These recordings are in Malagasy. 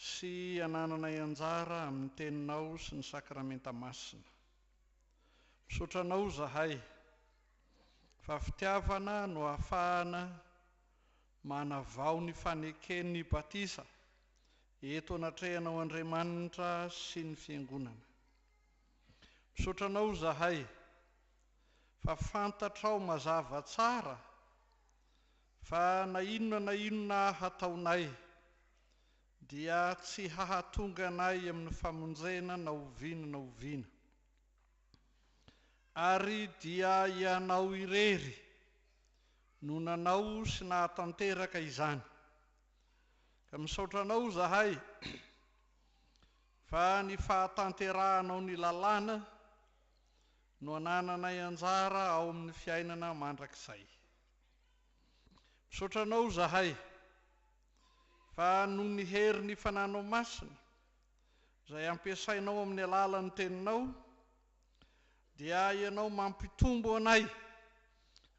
sy hanananay anjara amin'ny Teninao sy ny Sakramenta Masina. Misaotra Anao izahay fa fitiavana no ahafahana manavao ny faneken'ny batisa eto anatrehanao Andriamanitra sy ny Fiangonana. Misaotra Anao izahay fa fantatrao mazava tsara Fa na inona na inona hataonay, dia tsy hahatonga anay amin'ny famonjena na oviana na oviana. Ary dia Ianao irery no nanao sy nahatanteraka izany. Ka misaotra Anao izahay fa ny fahatanterahanao ny lalàna no anananay anjara ao amin'ny fiainana mandrakizay. Misaotra anao zahay fa noho ny hery ny fananao masina izay ampiasainao amin'ny alalan'ny teninao dia ianao mampitombo anay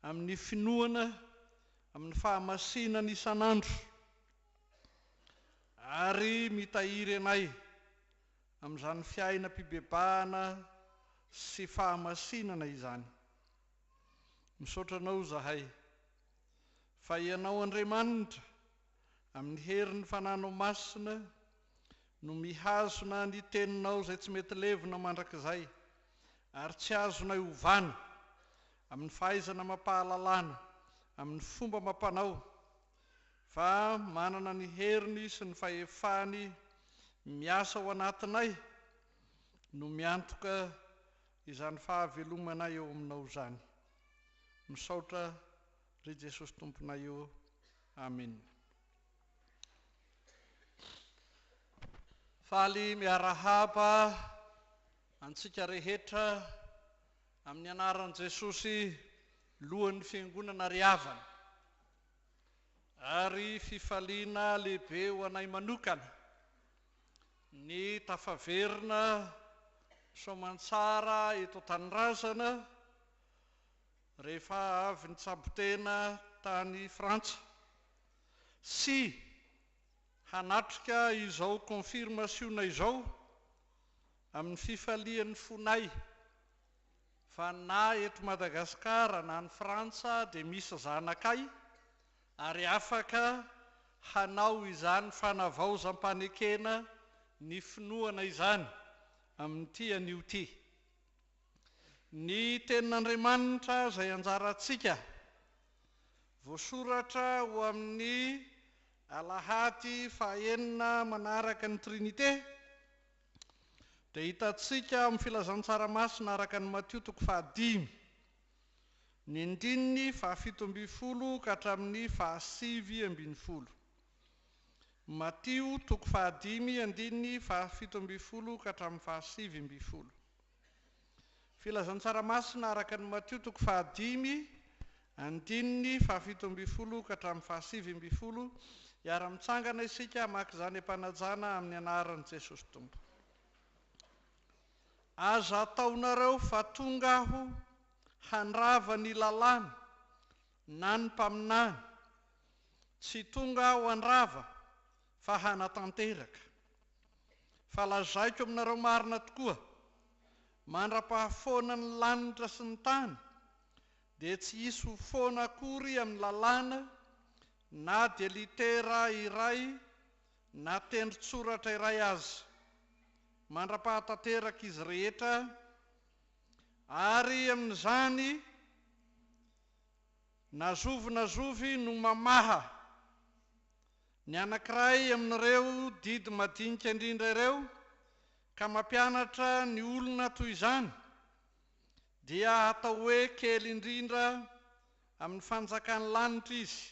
amin'ny finoana amin'ny fahamasinany isan'andro ary mitahiry anay amin'izany fiainam-pibebahana sy fahamasinana izany. Misaotra anao zahay fa ianao Andriamanitra amin'ny herin'ny fananao masina no mihazona ny teninao izay tsy mety levona mandrakizay ary tsy azonay ovana amin'ny fahaizana amam-pahalalana amin'ny fomba amam-panao fa manana ny heriny sy ny fahefany miasa ao anatinay no miantoka Izany fahavelomana eo aminao zany. Misaotra ry Jesosy Tomponay o Amen. Faly miarahaba antsika rehetra amin'ny anaran'i Jesosy lohan'ny fiangonana ry havana. Ary fifaliana lehibe ho anay manokana. Ny tafaverina soamantsara eto an-tanindrazana rehefa avy nitsabo-tena tany Frantsa sy hanatrika izao konfirmasiona izao amin'ny fifalian'ny fonay fa na eto Madagasikara na any Frantsa dia misy zanakay ary afaka hanao izany fanavaozam-panekena ny finoana izany amin'ity anio ity. Ny Tenin'Andriamanitra izay anjarantsika, voasoratra ho amin'ny Alahady fahaenina manaraka ny Trinite, dia hitantsika amin'ny Filazantsara Masina araka an'i Matio toko fahadimy. ny ndininy fahafito ambin'ny folo ka hatramin'ny fahasivy ambin'ny folo. Matio toko fahadimy andininy fahafito ambin'ny folo ka hatramin'ny fahasivy ambin'ny folo. Filazantsara masina araka an'i Matio toko fahadimy andininy fahafito ambin'ny folo ka hatramin'ny fahasivy ambin'ny folo, hiara-mitsangana isika hamaky izany am-panajana amin'ny anaran'i Jesosy Tompo. Aza ataonareo fa tonga aho handrava ny lalàna na ny mpaminany, tsy tonga aho handrava fa hanatanteraka. Fa lazaiko aminareo marina tokoa, mandra-pahafoana ny lanitra sy ny tany dia tsy hisy ho foana akory amin'ny lalàna na dia litera iray na tendron-tsoratra iray aza, mandra-pahatanteraka izy rehetra, ary amin'izany na zovy na zovy no mamaha ny anankiray amin'ireo didy madinika indrindra ireo ka mampianatra ny olona toy izany, dia hatao hoe kely indrindra amin'ny Fanjakan'ny lanitra izy,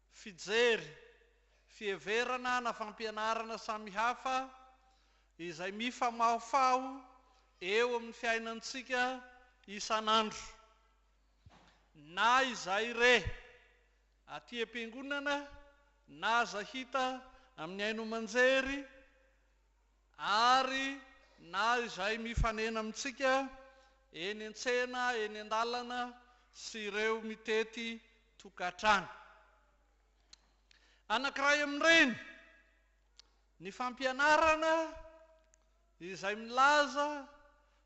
Fijery, fiheverana na fampianarana samihafa izay mifamahofaho eo amin'ny fiainantsika isan'andro. Na izay re, aty am-piangonana na aza hita amin'ny haino aman-jery, Ary na izay mifanena amintsika eny an-tsena, eny an-dalana sy ireo mitety tokantrano. Anankiray amin'ireny ny fampianarana izay milaza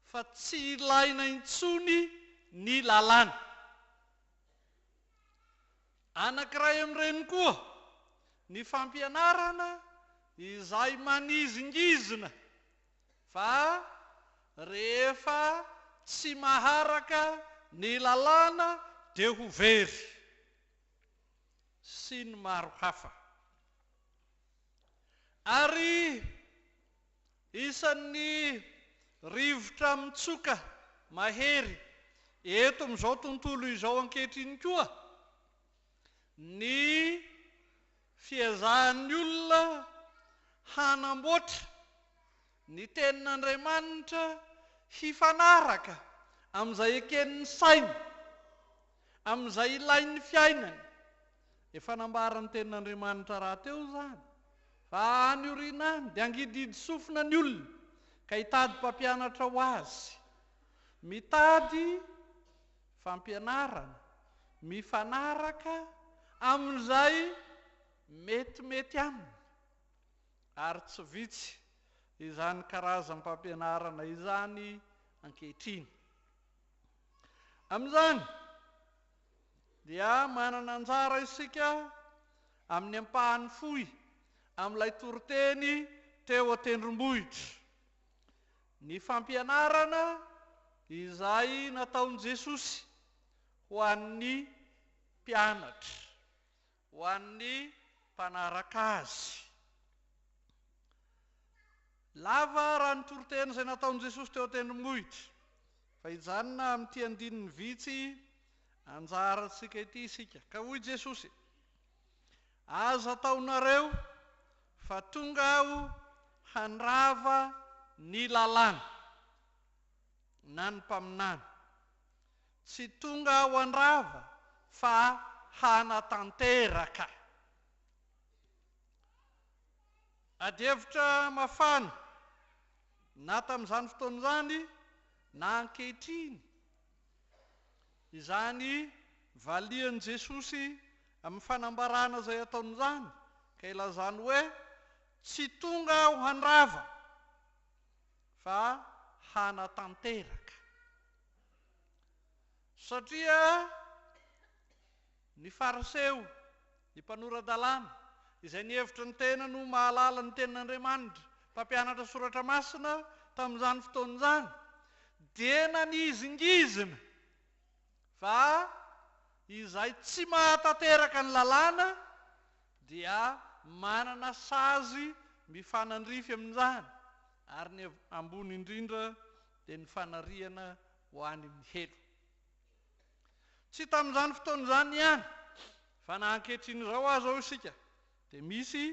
fa tsy ilaina intsony ny lalàna. Anankiray amin'ireny koa ny fampianarana izay manizingizina fa rehefa tsy maharaka ny lalàna dia ho very, sy ny maro hafa. Ary. Isan'ny rivotra mitsoka mahery eto amin'izao tontolo izao ankehitriny koa ny fiezahan'ny olona hanamboatra ny Tenin'Andriamanitra hifanaraka amin'izay eken'ny sainy. amin'izay ilain'ny fiainany. Efa nambaran'ny Tenin'Andriamanitra rahateo izany, fa any aoriana any dia hangidihidy sofina ny olona, ka hitady mpampianatra ho azy. Mitady fampianarana mifanaraka amin'izay metimety aminy, ary tsy vitsy izany karazam-pampianarana izany ankehitriny. Amin'izany dia manana anjara isika amin'ny ampahany fohy amin'ilay toriteny teo an-tendrombohitra. Ny fampianarana izay nataon'i Jesosy ho an'ny mpianatra Ho an'ny mpanaraka azy. Lava raha ny toriteny izay nataon'i Jesosy teo an-tendrombohitra, fa hijanona amin'ity andininy vitsy anjarantsika ity isika. Ka hoy Jesosy, Aza ataonareo fa tonga Aho handrava ny Lalàna na ny Mpaminany. Tsy tonga aho handrava fa hanatanteraka. Adihevitra mafana, na tamin'izany fotoana izany na ankehitriny, izany valian'i Jesosy amin'ny fanambarana izay ataony izany, ka ilazany hoe, Tsy tonga aho handrava fa hanatanteraka. Satria ny Fariseo, ny mpanora-dalàna, izay nihevitra ny tenany ho mahalala ny Tenin'Andriamanitra, mpampianatra Soratra Masina tamin'izany fotoana izany, dia nanizingizina fa izay tsy mahatanteraka ny Lalàna dia manana sazy mifanandrify amin'izany, ary ny ambony indrindra, dia ny fanariana ho any amin'ny helo. Tsy tamin'izany fotoana izany ihany fa na ankehitriny izao aza hoy isika dia misy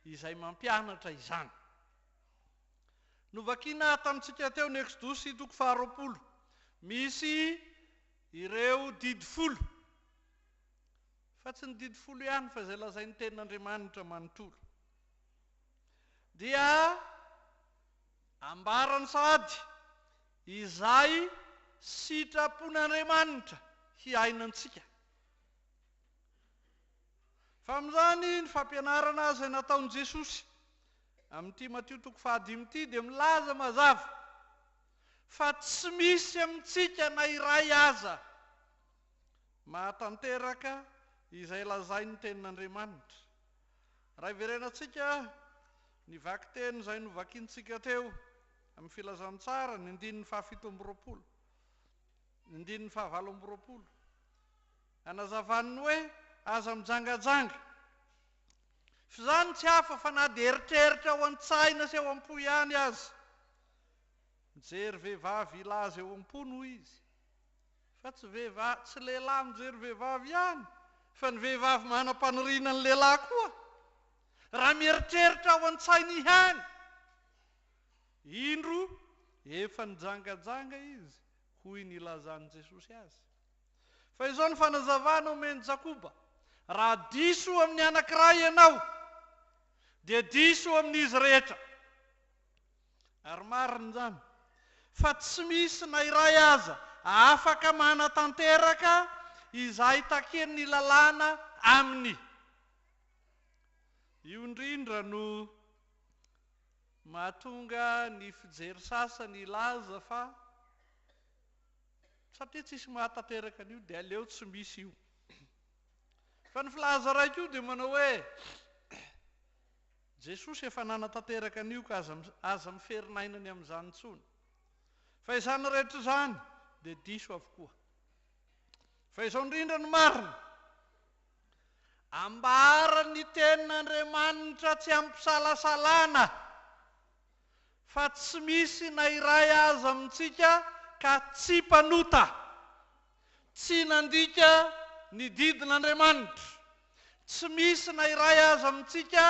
izay mampianatra izany. Novakina tamintsika teo ny Eksodosy toko faharoapolo, misy ireo didy folo, fa tsy ny didy folo ihany fa izay lazain'ny tenin'Andriamanitra manontolo. Dia Ambarany sahady, Izay sitrapon'Andriamanitra hiaina antsika. Fa amin'izany, ny fampianarana izay nataon'i Jesosy amin'ity Matio toko fahadimy ity dia milaza mazava fa tsy misy amintsika na iray aza mahatanteraka izay lazain'ny Tenin'Andriamanitra. Raha iverenantsika ny vakiteny izay novakintsika teo amin'ny Filazantsara, ny andininy fahafito amby roapolo, ny andininy fahavalo amby roapolo, hanazavany ny hoe aza mijangajanga. F'izany tsy hafa fa na dia eritreritra ao an-tsaina sy ao am-po ihany aza. Mijery vehivavy hilaza eo am-pony hoy izy, Fa tsy vehivavy, tsy lehilahy mijery vehivavy ihany fa ny vehivavy manam-paniriana ny lehilahy koa. Raha mieritreritra ao an-tsainy ihany. Indro efa nijangajanga izy hoy ny ilazan'i Jesosy azy. Fa izao ny fanazavana omen'i Jakoba, Raha diso amin'ny anankiray ianao, dia diso amin'izy rehetra. Ary marina izany fa tsy misy na iray aza afaka manatanteraka izay takian'ny lalàna aminy. Io indrindra no mahatonga ny fijery sasany hilaza fa satria tsisy mahatanteraka an'io dia aleo tsy misy io. Fa ny filaza iray koa dia manao hoe, Jesosy efa nanatanteraka an'io ka aza aza miferina aina ny amin'izany intsony. Fa izany rehetra izany dia diso avokoa. Fa izao indrindra no marina, Ambara ny tenin'Andriamanitra tsy amim-pisalasalana fa tsy misy na iray aza amintsika ka tsy mpanota. Tsy nandika ny didin'Andriamanitra. Tsy misy na iray aza amintsika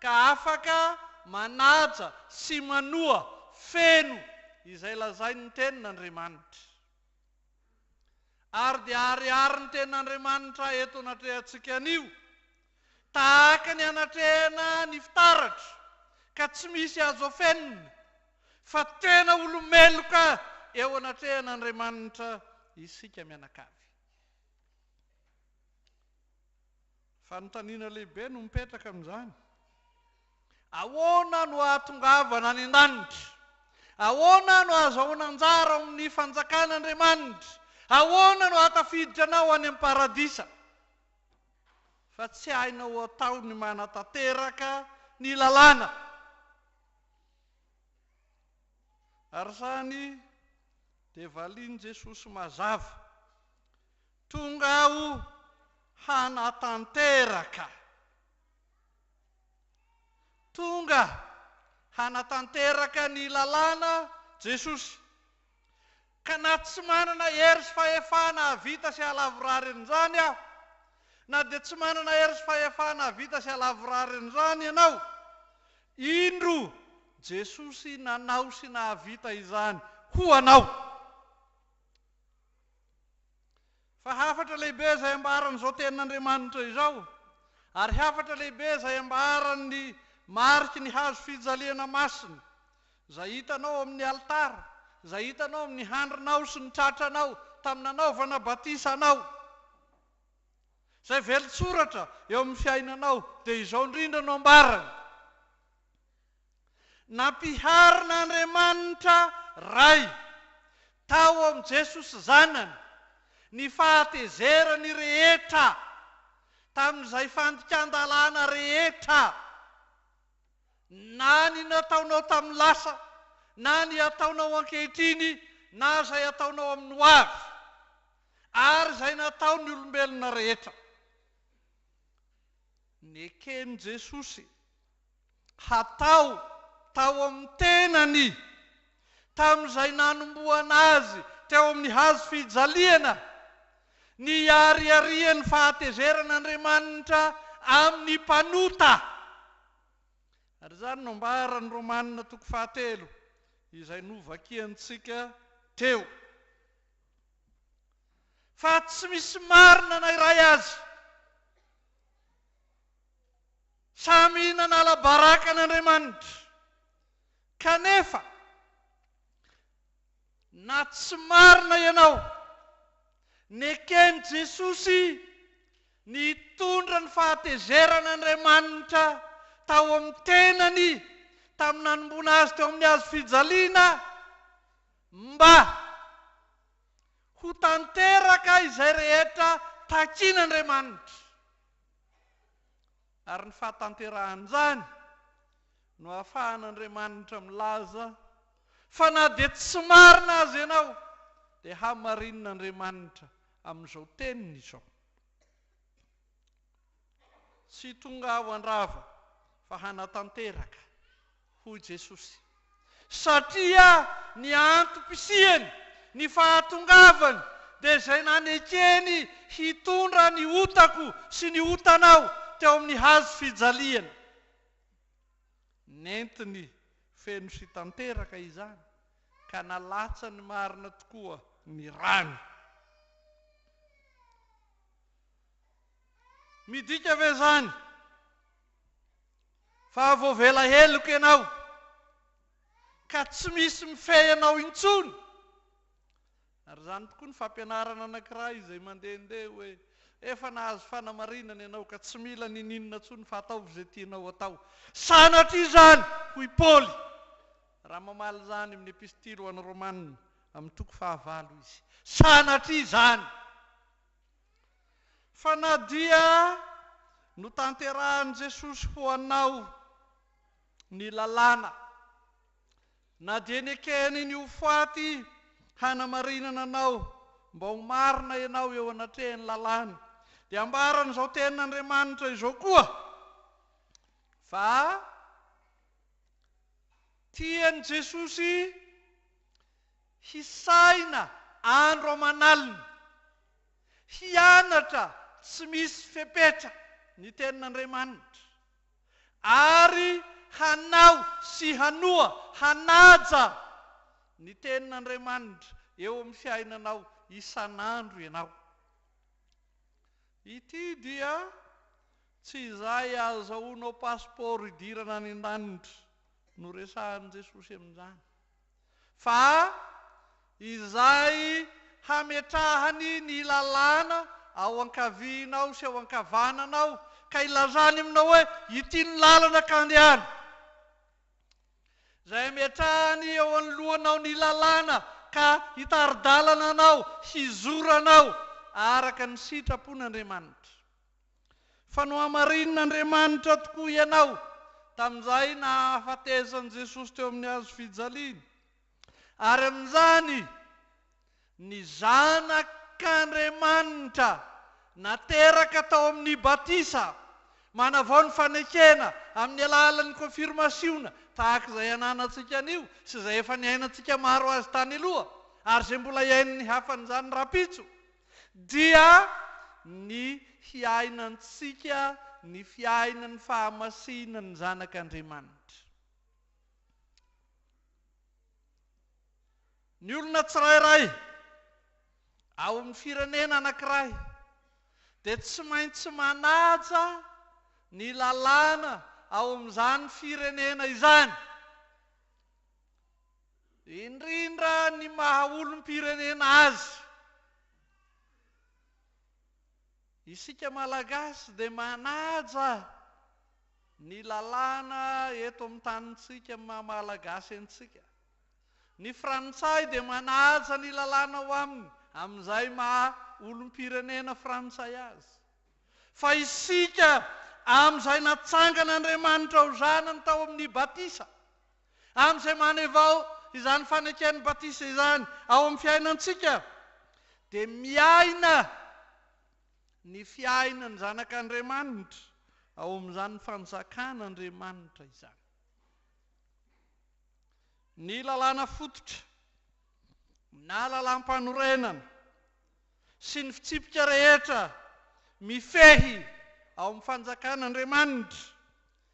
ka afaka manaja sy manoa feno izay lazain'ny Tenin'Andriamanitra. Ary dia ariarin'ny Tenin'Andriamanitra eto anatrehantsika anio. Tahaka ny anatrehana ny fitaratra ka tsy misy azo afenina fa tena olo-meloka eo anatrehan'Andriamanitra isika mianakavy. Fanontaniana lehibe no mipetraka amin'izany, Ahoana no ahatongavana any an-danitra? Ahoana no ahazahoana anjara ao amin'ny fanjakan'Andriamanitra? Ahoana no ahatafiditra anao any amin'ny paradisa? fa tsy hainao ho atao ny manatanteraka ny lalàna. Ary izany dia valian'i Jesosy mazava, Tonga Aho hanatanteraka. Tonga hanatanteraka ny lalàna Jesosy. Ka na tsy manana hery sy fahefana hahavita sy hahalavorary an'izany aho, na dia tsy manana hery sy fahefana hahavita sy hahalavorary an'izany ianao, indro, Jesosy nanao sy nahavita izany ho anao. Fa hafatra lehibe izay ambaran'izao tenin'Andriamanitra izao, ary hafatra lehibe izay ambaran'ny mariky ny hazo fijaliana masina, izay hitanao ao amin'ny alitara, izay hitanao amin'ny handrinao sy ny tratranao tamin'ny nanaovana batisa anao, izay velon-tsoratra eo amin'ny fiainanao, dia izao indrindra no ambarany. Nampiharin'Andriamanitra Ray tao amin'i Jesosy Zanany ny fahatezerany rehetra tamin'izay fandikan-dalàna rehetra, na ny nataonao tamin'ny lasa, na ny ataonao ankehitriny, na izay hataonao amin'ny ho avy, ary izay nataon'ny olombelona rehetra. Neken'i Jesosy. hatao tao amin'ny tenany tamin'izay nanombohana azy teo amin'ny hazo fijaliana, niariarian'ny fahatezeran'Andriamanitra amin'ny mpanota. Ary izany no ambaran'ny Romana toko fahatelo, izay novakiantsika teo. Fa tsy misy marina na iray azy. Samy nanala baraka an'Andriamanitra, kanefa na tsy marina ianao, neken'i Jesosy ny hitondra ny fahatezeran'Andriamanitra tao amin'ny tenany tamin'ny nanomboana Azy teo amin'ny hazo fijaliana mba ho tanteraka izay rehetra takin'Andriamanitra. ary ny fahatanterahan'izany no ahafahan'Andriamanitra milaza fa na dia tsy marina aza ianao dia hamarinin'Andriamanitra amin'izao teniny izao. Tsy tonga aho handrava fa hanatanteraka. Hoy Jesosy, Satria ny antom-pisiany, ny fahatongavany, dia izay nanekeny hitondra ny otako sy ny otanao teo amin'ny hazo fijaliana. Nentiny feno sy tanteraka izany, ka nalatsany marina tokoa ny rany. Midika ve izany? Fa voavela heloka ianao, ka tsy misy mifehy anao intsony. Ary izany tokoa ny fampianarana anankiray izay mandehandeha hoe, Efa nahazo fanamarinana ianao, ka tsy mila ninininona intsony fa ataovy izay tianao atao. Sanatria izany, hoy Paoly, raha mamaly izany amin'ny Epistily ho an'ny Romana, amin'ny toko fahavalo, izy. Sanatria izany! Fa na dia notanterahin'i Jesosy ho anao ny Lalàna, na dia nekeny ny ho faty hanamarinana anao mba ho marina ianao eo anatrehan'ny Lalàny, dia ambaran'izao Tenin'Andriamanitra izao koa, fa tia an'i Jesosy Hisahina andro aman'alina. Hianatra tsy misy fepetra ny Tenin'Andriamanitra, ary hanao sy hanoa hanaja ny Tenin'Andriamanitra eo amin'ny fiainanao isan'andro ianao. Ity dia tsy izay ahazahoanao pasipaoro hidirana any an-danitra no resahin'i Jesosy amin'izany. fa izay hametrahany ny lalàna ao ankavianao sy ao ankavananao ka ilazany aminao hoe ity ny lalana ka andehana, izay hametrahany eo anoloanao ny lalàna ka hitari-dalana anao hizora anao araka ny sitrapon'Andriamanitra. Fa nohamarinin'Andriamanitra tokoa ianao tamin'izay nahafatesan'i Jesosy teo amin'ny hazo fijaliana, ary amin'izany ny Zanak'Andriamanitra nateraka tao amin'ny batisa manavao ny fanekena amin'ny alalan'ny kônfirmasiona tahaka izay ananantsika anio sy izay efa niainantsika maro azy tany aloha ary izay mbola hiain'ny hafan'izany rahampitso. dia ny hiainantsika ny fiainan'ny fahamasinan'ny Zanak'Andriamanitra. Ny olona tsirairay ao amin'ny firenena anankiray dia tsy maintsy manaja ny lalàna ao amin'izany firenena izany. indrindra ny maha olom-pirenena azy. Isika Malagasy dia manaja ny lalàna eto amin'ny tanintsika amin'ny maha Malagasy antsika. Ny Frantsay dia manaja ny lalàna ao aminy amin'izay maha olom-pirenena Frantsay azy. Fa isika, amin'izay natsangan'Andriamanitra ho zanany tao amin'ny batisa, Amin'izay manevao izany faneken'ny batisa izany ao amin'ny fiainantsika, dia miaina ny fiainan'ny zanak'Andriamanitra ao amin'izany fanjakan'Andriamanitra izany. Ny lalàna fototra na lalàm-panorenana sy ny fitsipika rehetra mifehy ao amin'ny fanjakan'Andriamanitra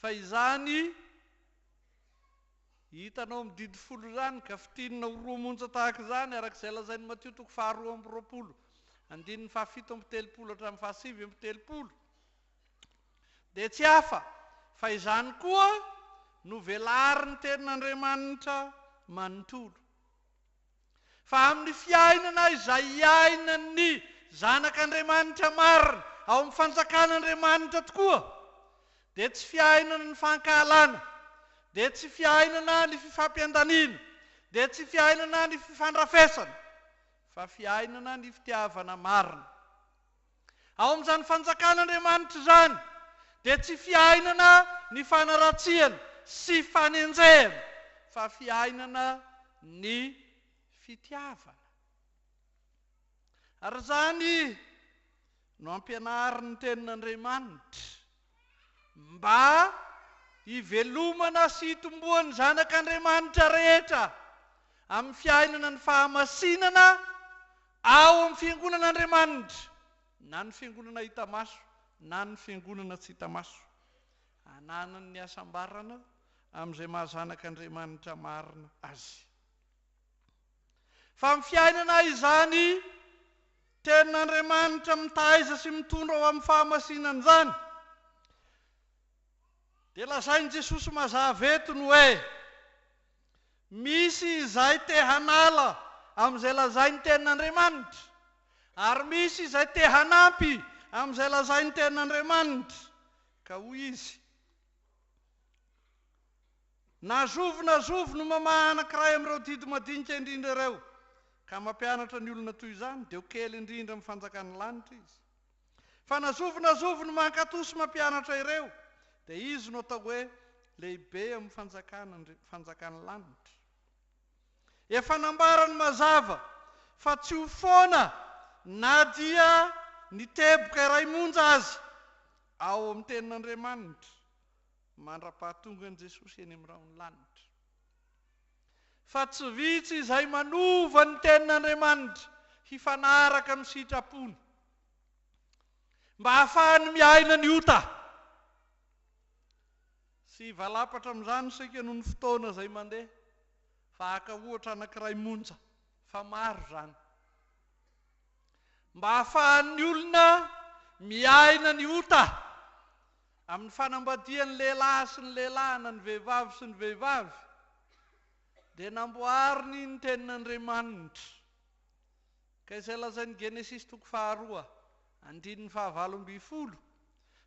Fa izany hitanao mididy folo izany ka fintinina ho roa monja tahaka izany, araka izay lazain'i Matio toko faharoa amby roapolo, andininy fahafito amby telopolo hatramin'ny fahasivy amby telopolo, dia tsy hafa fa izany koa no velarin'ny Tenin'Andriamanitra manontolo. Fa amin'ny fiainana izay iainan'ny zanak'Andriamanitra marina ao amin'ny fanjakan'Andriamanitra tokoa, dia tsy fiainana ny fankahalana, dia tsy fiainana ny fifampiandaniana, dia tsy fiainana ny fifandrafesana, fa fiainana ny fitiavana marina. Ao amin'izany fanjakan'Andriamanitra izany dia tsy fiainana ny fanaratsiana sy fanenjehana fa fiainana ny fitiavana. Ary izany no ampianarin'ny Tenin'Andriamanitra. mba hivelomana sy hitomboan'ny zanak'Andriamanitra rehetra amin'ny fiainana ny fahamasinana ao amin'ny fiangonan'Andriamanitra, na ny fiangonana hita maso na ny fiangonana tsy hita maso, hananany ny hasambarana amin'izay maha zanak'Andriamanitra marina azy. Fa amin'ny fiainana izany Tenin'Andriamanitra mitaiza sy mitondra ho amin'ny fahamasinana izany, dia lazain'i Jesosy mazava eto ny hoe, Misy izay te hanala amin'izay lazain'ny Tenin'Andriamanitra, ary misy izay te hanampy amin'izay lazain'ny Tenin'Andriamanitra. Ka hoy izy. Na zovy na zovy no mamaha anankiray amin'ireo didy madinika indrindra ireo ka mampianatra ny olona toy izany, dia ho kely indrindra amin'ny fanjakan'ny lanitra izy. Fa na zovy na zovy no mankatò sy mampianatra ireo, dia izy no atao hoe lehibe amin'ny fanjakana, fanjakan'ny lanitra. Efa nambarany mazava fa tsy ho foana na dia ny teboka iray monja aza ao amin'ny Tenin'Andriamanitra mandra-pahatongan'i Jesosy eny amin'ny rahon'ny lanitra. Fa tsy vitsy izay manova ny tenin'Andriamanitra hifanaraka amin'ny sitrapony, mba hahafahany miaina ny ota. Tsy hivalapatra amin'izany isika noho ny fotoana izay mandeha, fa haka ohatra anankiray monja, fa maro izany. Mba hahafahan'ny olona miaina ny ota, Amin'ny fanambadian'ny lehilahy sy ny lehilahy na ny vehivavy sy ny vehivavy dia namboariny ny tenin'Andriamanitra ka izay lazain'ny Genesisy toko faharoa andininy fahavalo ambin'ny folo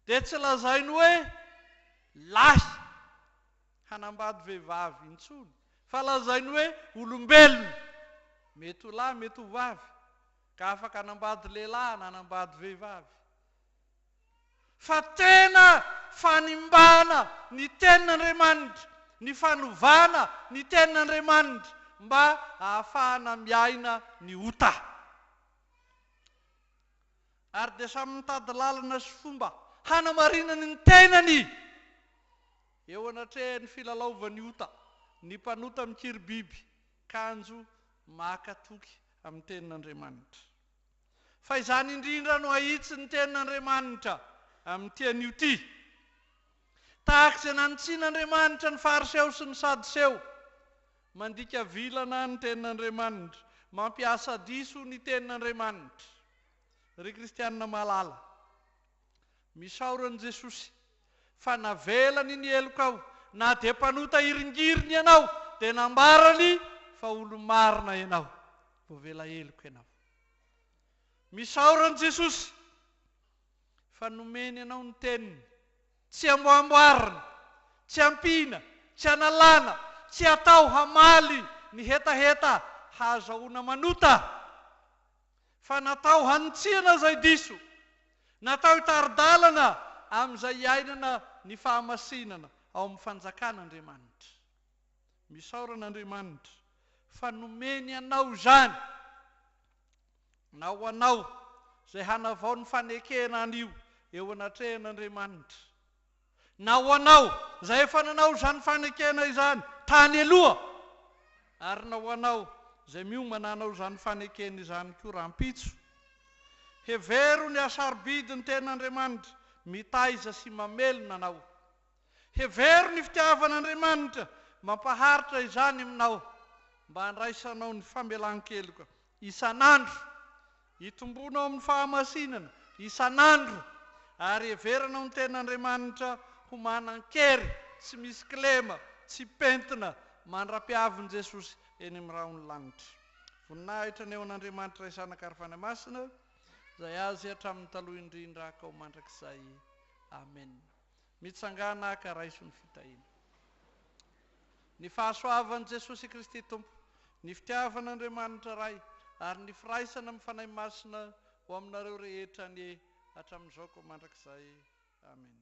dia tsy lazainy hoe lahy hanambady vehivavy intsony fa lazainy hoe olombelona mety ho lahy mety ho vavy ka afaka hanambady lehilahy na hanambady vehivavy. Fa tena fanimbana ny Tenin'Andriamanitra ny fanovana ny Tenin'Andriamanitra mba hahafahana miaina ny ota. Ary dia samy mitady lalana sy fomba hanamarinany ny tenany eo anatrehan'ny filalaovan'ny ota ny mpanota mikiribiby kanjo maka toky amin'ny Tenin'Andriamanitra. fa izany indrindra no ahitsy ny tenin' Andriamanitra amin' ity anio ity. Tahaka izay nanitsian' Andriamanitra ny Fariseo sy ny Sadoseo, mandika vilana ny tenin' Andriamanitra, mampiasa diso ny tenin' Andriamanitra, ry kristiana malala. Misaora an'i Jesosy fa navelany ny helokao na dia mpanota hiringiriny ianao dia nambarany fa olo-marina ianao, voavela heloka ianao. Misaora an'i Jesosy fa nomeny anao ny teniny, tsy amboamboarina, tsy ampiana, tsy analana, tsy atao hamaly ny hetaheta hahazahoana manota. fa natao hanitsiana izay diso, natao hitari-dalana amin'izay iainana ny fahamasinana ao amin'ny fanjakan' Andriamanitra. Misaora an'Andriamanitra fa nomeny anao izany, na ho anao izay hanavao ny fanekena anio eo anatrehan' Andriamanitra. Na ho anao izay efa nanao izany fanekena izany tany aloha, ary na ho anao izay miomana hanao izany fanekena izany koa rahampitso, hevero ny hasarobidy ny Tenin'Andriamanitra mitaiza sy mamelona anao. Hevero ny fitiavan'Andriamanitra mampaharitra izany aminao mba handraisanao ny famelan-keloka isan'andro, hitomboana ao amin'ny fahamasinana isan'andro, ary heverana ho ny ten'Andriamanitra ho manan-kery, tsy misy kilema, tsy pentina, mandra-piavin'i Jesosy eny amin'ny rahon'ny lanitra. Voninahitra ny eo an'Andriamanitra Ray Zanaka ary Fanahy Masina, izay Azy hatramin'ny taloha indrindra, hankao mandrakizay. Amena. Mitsangàna ka raiso ny fitahiana. Ny fahasoavan'i Jesosy Kristy Tompo, ny fitiavan'Andriamanitra Ray ary ny firaisana amin'ny Fanahy Masina ho aminareo rehetra anie hatramin'izao koa mandrakizay. Amena.